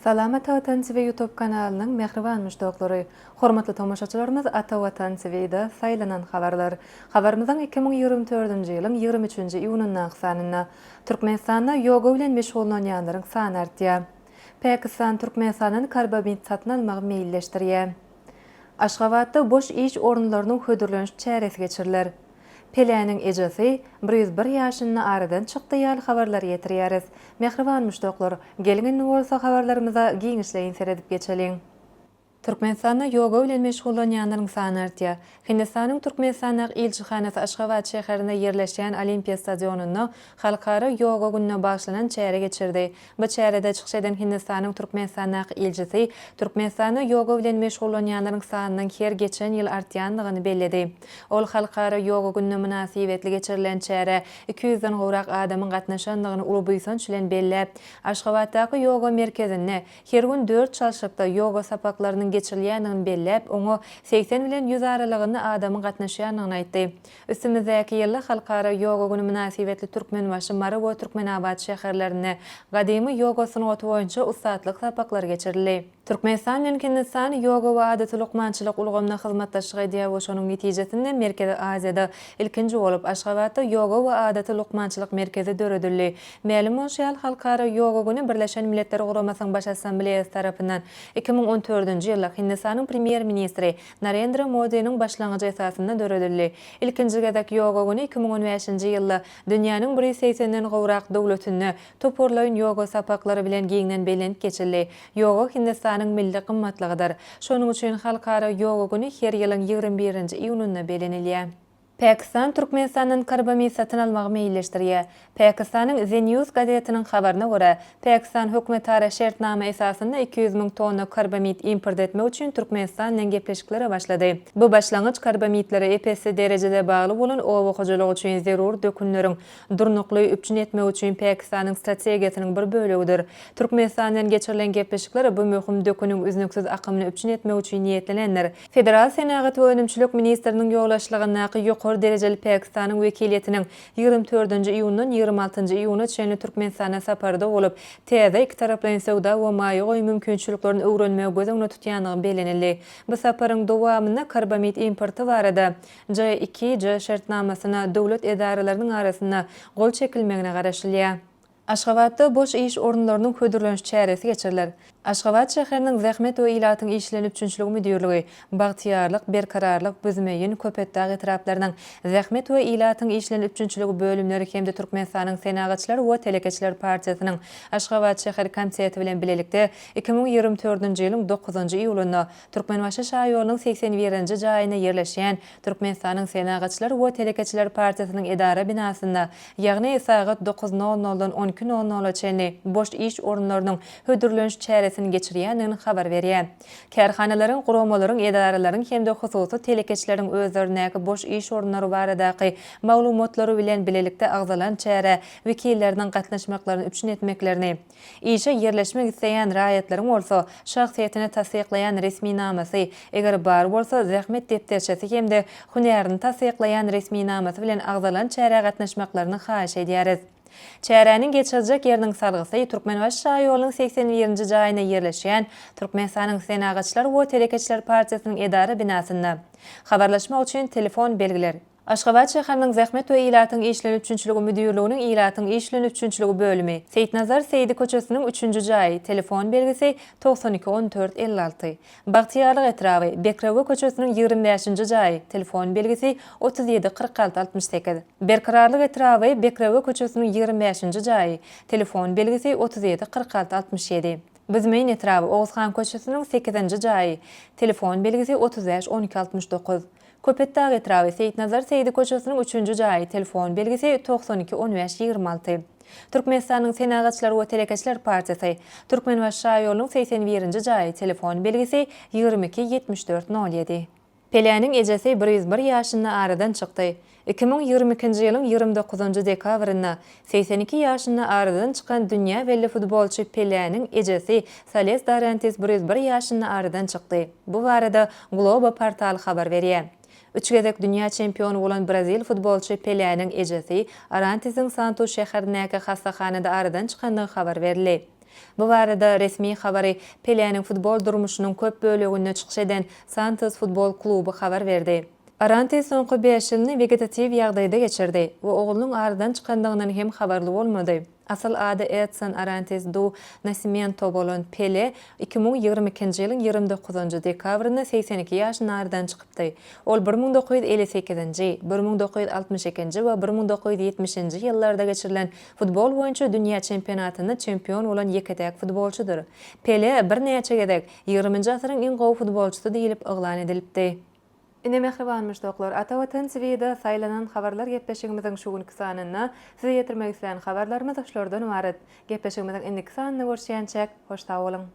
Salamat Watan TV YouTube kanalynyň mähriban muşdaklary! Hormatly tomaşaçylarymyz Ata Watan TV-de saýlanan habarlar. Habarymyzyň iki müň ýigrimi dördünji ýylyň ýigrimi üçünji iýunyndaky sanynda Türkmenistanda ýoga bilen meşgullanýanlaryň sany artýar. Pakistan Türkmenistandan karbamid satyn almagy meýilleşdirýär. Aşgabatda boş iş orunlarynyň hödürleniş çäresi geçiriler. Peläniň ejesi bir ýüz bir ýaşyny aradan çykdy ýaly habarlary ýetirýäris. Mähriban muşdaklar, geliň indi bolsa habarlarymyza giňişleýin seredip geçeliň. Türkmenistanda ýoga bilen meşgullanýanlaryň sany artýar. Hindistanyň Türkmenistandaky ilçihanasy Aşgabat şäherinde ýerleşýän Olimpiýa stadionynda Halkara ýoga gününe bagyşlanan çäre geçirdi. Bu çärede çykyş eden Hindistanyň Türkmenistandaky ilçisi Türkmenistanda ýoga bilen meşgullanýanlaryň sanynyň her geçen ýyl artýandygyny belledi. Ol Halkara ýoga gününe mynasybetli geçirilen çärä iki ýüzden gowrak adamyň gatnaşandygyny uly buýsanç bilen belläp, Aşgabatdaky ýoga merkezinde Her gün dört çalşykda ýoga sapaklarynyň geçirilýändigini belläp, oňa segsen bilen ýüz aralygynda adamyň gatnaşýandygyny aýtdy. Üstümizdäki ýylda Halkara ýoga güni mynasybetli Türkmenbaşy, Mary we Türkmenabat şäherlerinde gadymy ýoga sungaty boýunça ussatlyk sapaklary geçirildi. Türkmenistan bilen Hindistan ýoga we adaty lukmançylyk ulgamynda hyzmatdaşlyk edýär we şonuň netijesinde Merkezi Aziýada ilkinji bolup Aşgabatda ýoga we adaty lukmançylyk merkezi döredildi. Mälim bolşy ýaly, Halkara ýoga güni Birleşen Milletler Guramasynyň Baş Assambleýasy tarapyndan iki müň on dördünji ýylda Hindistanyň Premýer-ministri Narendra Modiniň başlangyjy esasynda döredildi. Ilkinji gezek ýoga güni iki müň on bäşinji ýylda dünýäniň bir ýüz segsenden gowrak döwletinde toparlaýyn ýoga sapaklary bilen giňden belent geçildi. Ýoga Hindistanyň milli gymmatlygydyr. Şonuň üçin Halkara ýoga güni her ýylyň ýigrimi birinji iýunynda belenilýär. Pakistan Türkmenistandan karbamid satyn almagy meýilleşdirýär. Pakistanyň The News gazetiniň habaryna görä, Pakistan hökümetara şertnama esasynda iki ýüz müň tonna karbamid import etmek üçin Türkmenistan bilen gepleşiklere başlady. Bu başlangyç karbamidlere ep-esli derejede bagly bolan oba hojalygy üçin zerur dökünleriň durnukly üpjün etmegi üçin Pakistanyň strategiýasynyň bir bölegidir. Türkmenistan bilen geçirilen gepleşikler bu möhüm döküniň üznüksiz akymyny üpjün etmek üçin niýetlenendir. Federal senagat we önümçilik ministriniň ýolbaşçylygyndaky ýokary derejeli Pakistanyň wekiliýetiniň ýigrimi dördünji iýundan ýigrimi altynjy iýuna çenli Türkmenistana saparda bolup, täze ikitaraplaýyn söwda we maýa goýum mümkinçiliklerini öwrenmegi göz öňünde tutýandygy bellenildi. Bu saparyň dowamynda karbamid importy barada JIKJ şertnamasyna döwlet edaralarynyň arasynda gol çekilmegine garaşylýar. Aşgabatda boş iş orunlarynyň hödürleniş çäresi geçiriler. Aşgabat şäheriniň Zähmet we ilatyň işleýän üpjünçiligi müdirligi, Bagtyýarlyk, Berkararlyk, Büzmeýin, Köpetdag etraplarynyň Zähmet we ilatyň işleýän üpjünçiligi bölümleri hem-de Türkmenistanyň Senagatçylar we telekeçiler partiýasynyň Aşgabat şäher komiteti bilen bilelikde iki müň ýigrimi dördünji ýylyň dokuzynjy iýulynda Türkmenbaşy şaýolunyň segsen birinji jaýynda ýerleşýän Türkmenistanyň Senagatçylar we telekeçiler partiýasynyň edara binasynda, ýagny sagat dokuz nol noldan on iki nol nola çenli boş iş orunlarynyň hödürleniş çäresini geçirýändigini habar berýär. Kärhanalaryň, guramalaryň, edaralaryň hem-de hususy telekeçileriň özlerindäki boş iş orunlary baradaky maglumatlary bilen bilelikde agzalan çärä wekilleriniň gatnaşmaklaryny üpjün etmeklerini, Işe ýerleşmek isleýän raýatlaryň bolsa, şahsyýetini tassyklaýan resminamasy, eger bar bolsa, zähmet depderçesi hem-de hünärini tassyklaýan resminamasy bilen agzalan çärä gatnaşmaklaryny haýyş edýäris. Çäräniň geçiriljek ýeriniň salgysy Türkmenbaşy şaýolunyň segsen birinji jaýynda ýerleşýän Türkmenistanyň Senagatçylar we telekeçiler partiýasynyň edara binasynda. Habarlaşmak üçin telefon belgiler. Aşgabat şäheriniň Zähmet we ilatyň işleri üpjünçiligi müdirliginiň ilatyň işlerini üpjünçiligi bölümi, Seýitnazar Seýdi köçesiniň üçünji jaýy, telefon belgisi, togsan iki, on dört, elli alty. Bagtyýarlyk etraby, Bekrewe köçesiniň ýigrimi bäşinji jaýy, telefon belgisi, otuz ýedi, kyrk alty, altmyş sekiz. Berkararlyk etraby, Bekrewe köçesiniň ýigrimi bäşinji jaýy, telefon belgisi, otuz ýedi, kyrk alty, altmyş ýedi. Büzmeýin etraby, Oguzhan köçesiniň sekizinji jaýy, telefon belgisi, otuz bäş, on iki, altmyş dokuz. Köpetdag etraby, Seýitnazar Seýdi köçesiniň üçünji jaýy, telefon belgisi, togsan iki, on bäş, ýigrimi alty. Türkmenistanyň Senagatçylar we telekeçiler partiýasy, Türkmenbaşy şaýolunyň segsen birinji jaýy, telefon belgisi, ýigrimi iki, ýetmiş dört, nol ýedi. Peläniň ejesi bir ýüz bir ýaşynda aradan çykdy. Iki müň ýigrimi ikinji ýylyň ýigrimi dokuzynjy dekabrynda segsen iki ýaşynda aradan çykan dünýä belli futbolçy Peläniň ejesi Sales Darantis bir ýüz bir ýaşynda aradan çykdy. Bu barada Globo portaly habar berýär. Üç gezek dünýä çempiony bolan brazil futbolçy Peläniň ejesi Arantisiň Santus şäherindäki hassahanada aradan çykandygy habar berildi. Bu barada resmi habary Peläniň futbol durmuşynyň köp böleginde çykyş eden Santus futbol kluby habar berdi. Aranti soňky bäş ýylyny wegetatiw ýagdaýda geçirdi we oglunyň aradan çykandygyndan hem habarly bolmady. Asyl ady Edson Arantes do Nascimento bolan Pele iki müň ýigrimi ikinji ýylyň ýigrimi dokuzynjy dekabrynda segsen iki ýaşynda aradan çykypdy. Ol bir müň dokuz ýüz elli sekizinji, bir müň dokuz ýüz altmyş ikinji we bir müň dokuz ýüz ýetmişinji ýyllarda geçirilen futbol boýunça dünýä çempionatynda çempion bolan ýeke-täk futbolçydyr. Pele birnäçe gezek, Ýigriminji asyryň iň gowy futbolçysy diýlip yglan edilipdi. Ine mähriban muşdaklar, Ata Watan TV-de saýlanan habarlar gepleşigimiziň şu günki sanynda size ýetirmek islän habarlarymyz şulardan ybarat. Gepleşigimiziň indiki sanynda görüşýänçäk, hoş sag boluň!